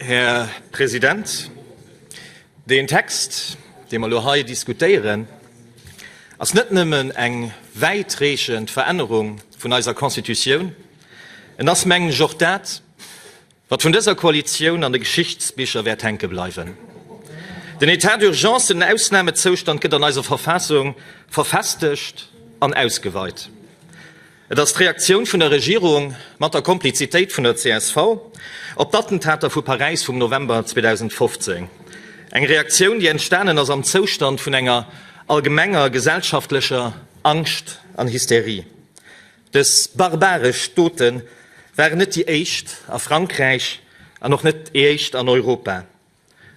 Här President, deen Text, dee mer elo hei diskutéieren, ass net nëmmen eng wäitreechend Verännerung vun eiser Constitutioun, en ass, mengen ech, och dat, wat vun dëser Koalitioun an de Geschichtsbicher wäert hänke bleiwen. Den État d'urgence, den Ausnamezoustand, gëtt an eiser Verfassung verfestegt an ausgeweit. Et ass d'Reaktioun vun der Regierung, mat der Komplizitéit vun der csv, op d'Attentater vu Paräis vum November 2015. Eng Reaktioun, déi entstanen ass am Zoustand vun enger allgemenger gesellschaftlecher Angscht an Hysterie. Dës barbaresch Dote waren net déi éischt a Frankräich an och net déi éischt an Europa.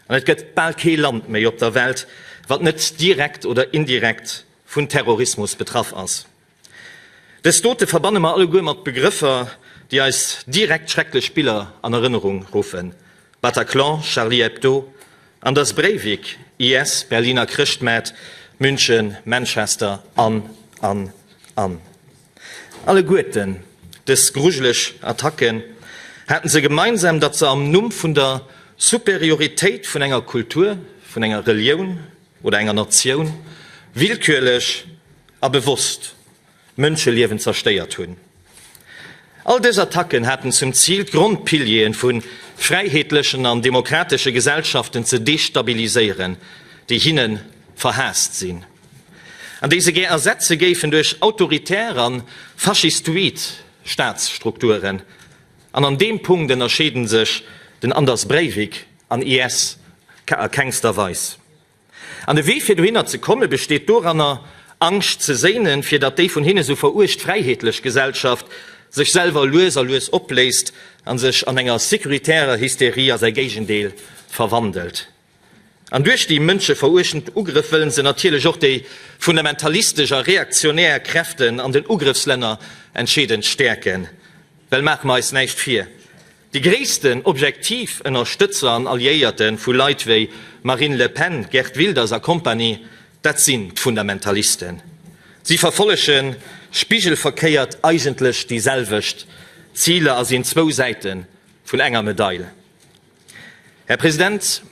An et gëtt bal kee Land méi op der Welt, wat net direkt oder indirekt vun Terrorismus betraff ass. Dës Dote verbanne mer alleguer mat Begrëffer, déi eis direkt schrecklech Biller an Erënnerung ruffen, Bataclan, Charlie Hebdo, Anders Breivik, IS, Berliner Chrëschtmaart, München, Manchester an, an, an. Alleguerten dës grujeleg Attacke haten se gemeinsam, datt se am Numm vun der Superioritéit vun enger Kultur, vun enger Relioun, oder enger Natioun willkürlech a bewosst Mënscheliewen zerstéiert hunn. All dës Attacken haten zum Zil, d'Grondpilieren vu fräiheetlechen an demokratesche Gesellschaften ze destabiliséieren, déi hinne verhaasst sinn, an déi se gär ersetze géifen duerch autoritär a faschistoid Staatsstrukturen. An an deem Punkt ënnerscheede sech den Anders Breivik An iess ka a kengster Weis. An de Wee fir dohinner ze komme besteet doranner, Angscht ze séinen, fir datt déi vun hinne sou veruecht fräiheetlech Gesellschaft sech selwer lues a lues opléist a sech an enger securitärer Hysterie a säi Géigendeel verwandelt. An duerch déi mënscheveruechtend Ugrëff wëllen se natierlech och déi fundamentalistesch a reaktionär Kräften an den Ugrëffslänner entscheedend stäerken. Well maache mer eis näischt vir, Déi gréissten Objektiv-Ënnerstëtzer an Alliéierte vu Leit wéi Marine Le Pen, Geert Wilders a Kompanie, dat sinn d'Fundamentalisten. Si verfollege spigelverkéiert eigentlech déi selwecht Ziler a sinn zwou Säite vun enger Medail, Här President.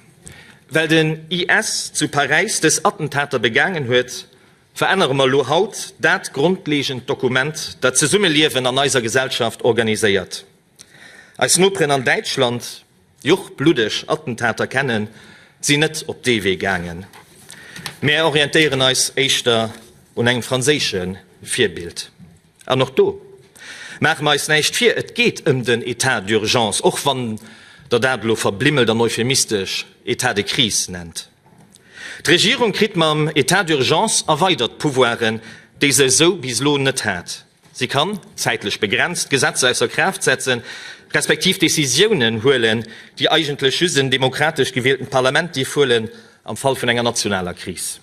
Well den IS zu Paräis dës Attentater begaangen huet, verännere mer elo haut dat grondleegend Dokument, dat d'Zesummeliewen an eiser Gesellschaft organiséiert. Eis Noperen an Däitschland, déi och bluddeg Attentater kennen, sinn net op dee Wee gaangen. Mär orientéieren eis éischter un engem franséische Virbild. An och do maache mer eis näischt vir, et geet ëm den Etat d'urgence, och wann Der dat elo verblimmelt an euphemistesch Etat de crise nennt. D'Regierung kritt mam Etat d'urgence erweidert Pouvoiren, déi se esou bis elo net hat. Si kann, zäitlech begrenzt, Gesetzer ausser Kraaft setzen, respektiv Decisiounen huelen, déi eigentlech just en demokratesch gewieltent Parlament dierf huelen, am Fall vun enger nationaler Kris.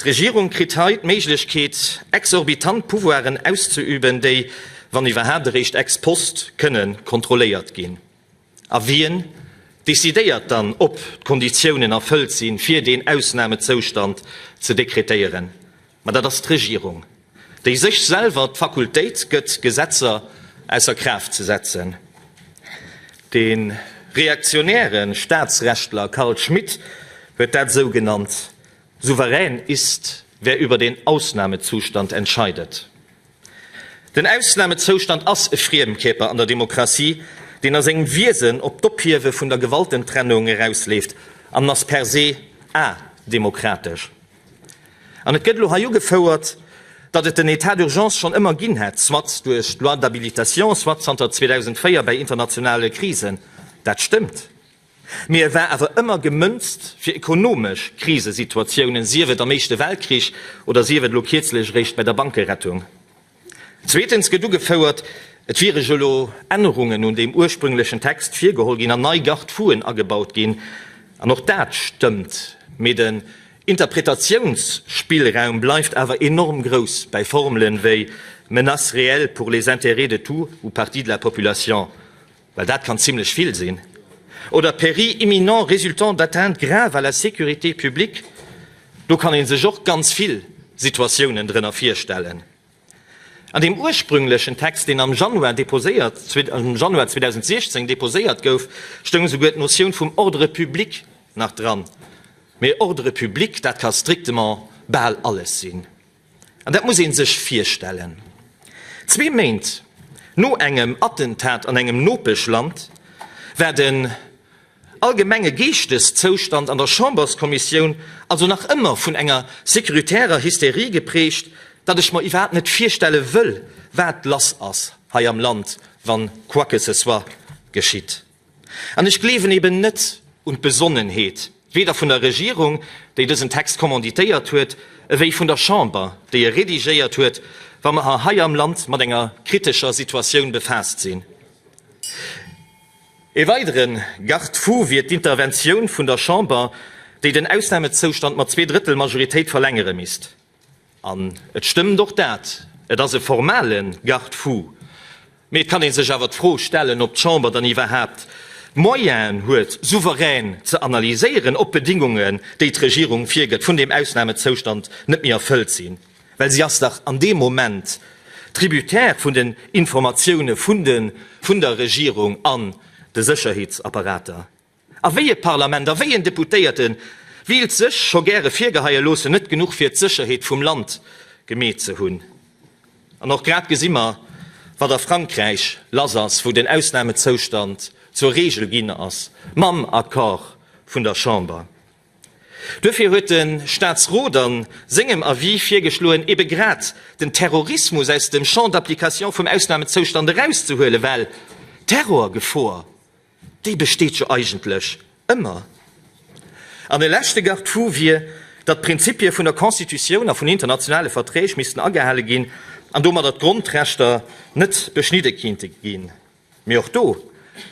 D'Regierung kritt hei d'Méiglechkeet, exorbitant Pouvoiren auszeüben, déi, wann iwwerhaapt, eréischt ex post kënne kontrolléiert ginn. A wien decidéiert dann, ob d'Konditiounen erfëllt sinn, fir deen Ausnamezoustand ze dekretéieren? Mä dat ass d'Regierung, déi sech selwer d'Fakultéit gëtt, Gesetzer ausser Kraaft ze setzen. De reaktionäre Staatsrechtler Carl Schmitt huet dat esou genannt, Souverän ist, wer über den Ausnahmezustand entscheidet. Den Ausnahmezoustand ass e Friemkierper an der Demokratie, deen a sengem Wiesen op d'Ophiewe vun der Gewaltentrennung erausleeft an ass per se ademokratesch. An et gëtt elo hei ugefouert, datt et den État d'urgence schonn ëmmer ginn hätt, soit duerch d'Loi d'habilitation, soit zanter 2004 bäi internationale Krisen. Dat stëmmt, mee e war awer ëmmer gemënzt fir ekonomesch Krisesituatiounen, sief et am Éischte Weltkrich oder sief et elo kierzlech eréischt bäi der Bankerettung. Zweetens gëtt ugefouert, et wiere jo elo Ännerungen un deem ursprünglechen Text virgeholl ginn an nei Garde-fouen agebaut ginn. An och dat stëmmt, mee den Interpretatiounsspillraum bleift awer enorm grouss bei Formele wéi menace réelle pour les intérêts de tout ou partie de la population. well dat kann zimlech vill sinn, oder péril imminent résultant d'atteinte grave à la sécurité publique, do kann ee sech och ganz vill Situatiounen drënner virstellen. An deem ursprünglechen Text, deen am Januar deposéiert, am Januar 2016 deposéiert gouf, stoung souguer d'Notioun vum Ordre public nach dran, mee Ordre public, dat ka strictement bal alles sinn. An dat muss ee sech virstellen, zwee Méint no engem Attentat an engem Nopeschland war den allgemenge Geeschteszoustand an der Chamberskommissioun also nach ëmmer vun enger securitärer Hysterie geprägt, datt ech mer iwwerhaapt net virstelle wëll, wat lass ass hei am Land, wann quoi que ce soit geschitt. An ech gleewen eben net un d'Besonnenheet, weder vun der Regierung, déi dësen Text kommanditéiert huet, ewéi vun der Chamber, déi e rédigéiert huet, wa mer hei am Land mat enger kritescher Situatioun befaasst sinn. E weidere Garde-fou wier d'Interventioun vun der Chamber, déi den Ausnamezoustand mat Zweedrëttelmajoritéit verlängere misst. An et stëmmt och dat, et ass e formale Garde-fou. Mee et kann ee sech awer d'Fro stellen, ob d'Chamber dann iwwerhaapt d'Moyenen huet, souverän ze analyséieren, ob d'Bedingungen, déi d'Regierung virgëtt, vun deem Ausnamezoustand net méi erfëllt sinn. Well si ass dach an deem Moment tributaire vun den Informatioune vun der Regierung an de Sécherheetsapparater. A wéi e Parlament a wéi en Deputéierte wéilt sëch scho gäre virgeheie loossen, net genuch fir d'Sëcherheet vum Land gemeet ze hunn? An och grad gesi mer, wat a Frankräich lass ass, wou den Ausnamezoustand zur Reegel ginn ass, mam Accord vun der Chamber. Duerfir huet de Staatsrot a sengem Avis virgeschloen, ebe grad den Terrorismus aus dem Champ d'application vum Ausnamezoustand erauszehuelen, well d'Terrorgefor Déi besteet jo eigentlech ëmmer. An e leschte Garde-fou wier, datt d'Prinzipie vun der Constitutioun a vun internationale Verträg missten agehale ginn an domadder d'Grondrechter net beschnidde kinnte ginn. Mee och do,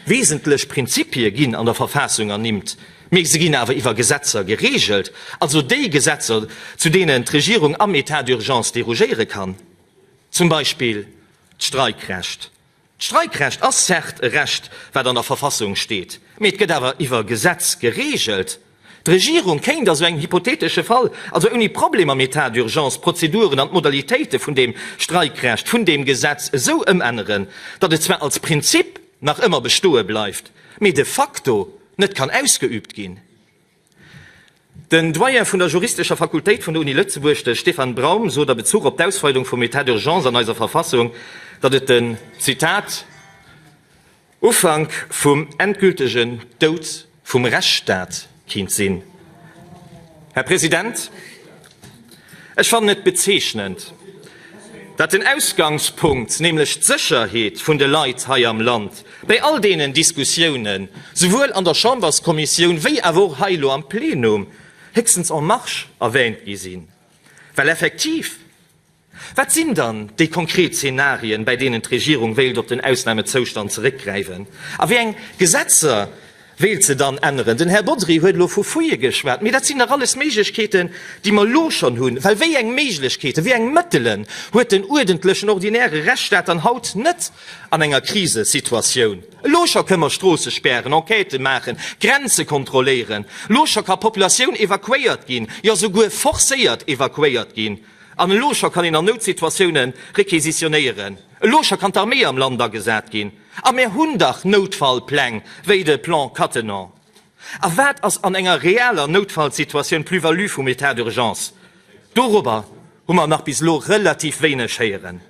Wesentlech Prinzipie ginn an der Verfaassung ernimmt, mee se ginn awer iwwer Gesetzer gereegelt, also déi Gesetzer, zu deenen d'Regierung am Etat d'urgence derogéiere kann, zum Beispill d'Streikrecht. D'Streikrecht ass certes e Recht, wat an der Verfassung steet, mee et gëtt awer iwwer Gesetz gereegelt. D'Regierung kéint a sou engem hypothetesche Fall also ouni Problem am Etat d'urgence d'Prozeduren an d'Modalitéite vun deem Streikrecht, vun deem Gesetz esou ëmänneren, datt et zwar als Prinzip nach ëmmer bestoe bleift, mee de facto net kann ausgeübt ginn. Den Doyen vun der juristescher Fakultéit vun der Uni Lëtzebuerg, de Stefan Braum, sot a Bezuch op d'Ausweitung vum Etat d'urgence an eiser Verfassung, datt et den, Zitat, Ufank vum endgültegen Doud vum Rechtsstaat kéint sinn. Här President! Ech fannen et bezeechnend, datt den Ausgangspunkt, nämlech d'Sécherheet vun de Leit hei am Land, bei all deenen Diskussiounen, souwuel an der Chamberskommissioun wéi awer och hei elo am Plenum, héchstens en marge erwähnt gi sinn, well effektiv, Wat sinn dann déi konkret Zenarien, bäi deenen d'Regierung wéilt op den Ausnamezoustand zeréckgräiwen? A wéi eng Gesetzer wéilt se dann änneren? Den Här Bodry huet elo vu Fuie geschwat, mee dat sinn dach alles Méiglechkeeten, déi mer elo schonn hunn. Well wéi eng Méiglechkeeten, wéi eng Mëttelen huet den uerdentlechen, ordinäre Rechtsstaat dann haut net an enger Krisesituatioun? Elo scho kënne mer Stroosse spären, Enquêten maachen, Grenze kontrolléieren. Elo scho ka Populatioun evakuéiert ginn, jo souguer forcéiert evakuéiert ginn. An elo scho kann een an Noutsituatioune requisitionéieren. Elo scho kann d'Armée am Land agesat ginn. A mär hunn dach Noutfallpläng, wéi de Plan Cattenom. A wat ass an enger reeller Noutfallsituatioun d'Plus-value vum État d'urgence? Dorobber hu mer nach bis elo relativ wéineg héieren.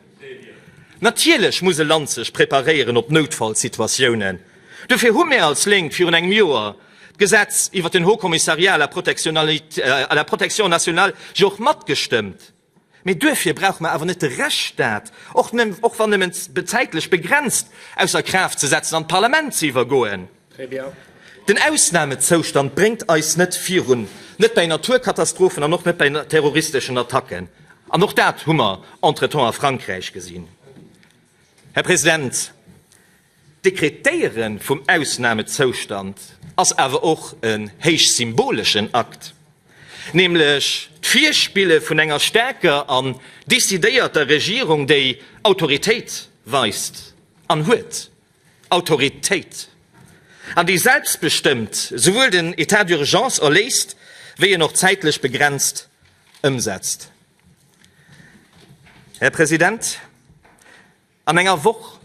Natierlech muss e Land sech preparéieren op Noutfallsituatiounen. Dofir hu mär als Lénk virun engem Joer d'Gesetz iwwert den Haut Commissariat à la protection à la protection nationale jo och matgestëmmt. Mee duerfir brauche mer awer net de Rechtsstaat, och wann nëmmen zäitlech begrenzt, ausser Kraaft ze setzen an d'Parlament ze iwwergoen. Den Ausnamezoustand bréngt eis net virun, net bei Naturkatastrophen an och net bei terroristeschen Attacken. An och dat hu mer entretemps a Frankräich gesinn. Här President, d'Dekretéiere vum Ausnamezoustand ass awer och e héich symboleschen Akt, nämlech d'Virspille vun enger staarker an decidéierter Regierung, déi Autoritéit weist an huet. Autoritéit an déi selbstbestëmmt souwuel den Etat d'urgence erléist wéi en och zäitlech begrenzt ëmsetzt. Här President, an enger Woch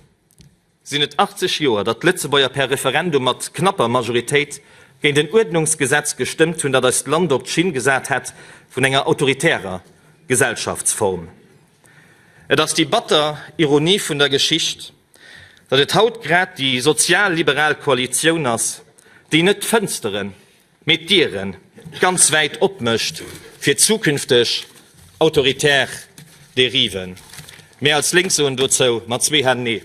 sinn et 80 Joer, datt d'Lëtzebuerger per Referendum mat knapper Majoritéit géint en Uerdnungsgesetz gestëmmt hunn, dat eist Land op d'Schinn gesat hätt vun enger autoritärer Gesellschaftsform. Et ass déi batter Ironie vun der Geschicht, datt et haut grad déi sozial-liberal Koalitioun ass, déi net d'Fënsteren, mee d'Diere ganz wäit opmécht fir zukünfteg autoritär Dériven. Mir als Lénk soen dozou mat zwee Hänn Nee!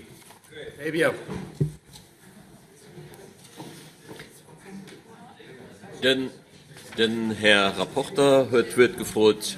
Den Här Rapporter huet d'Wuert gefrot.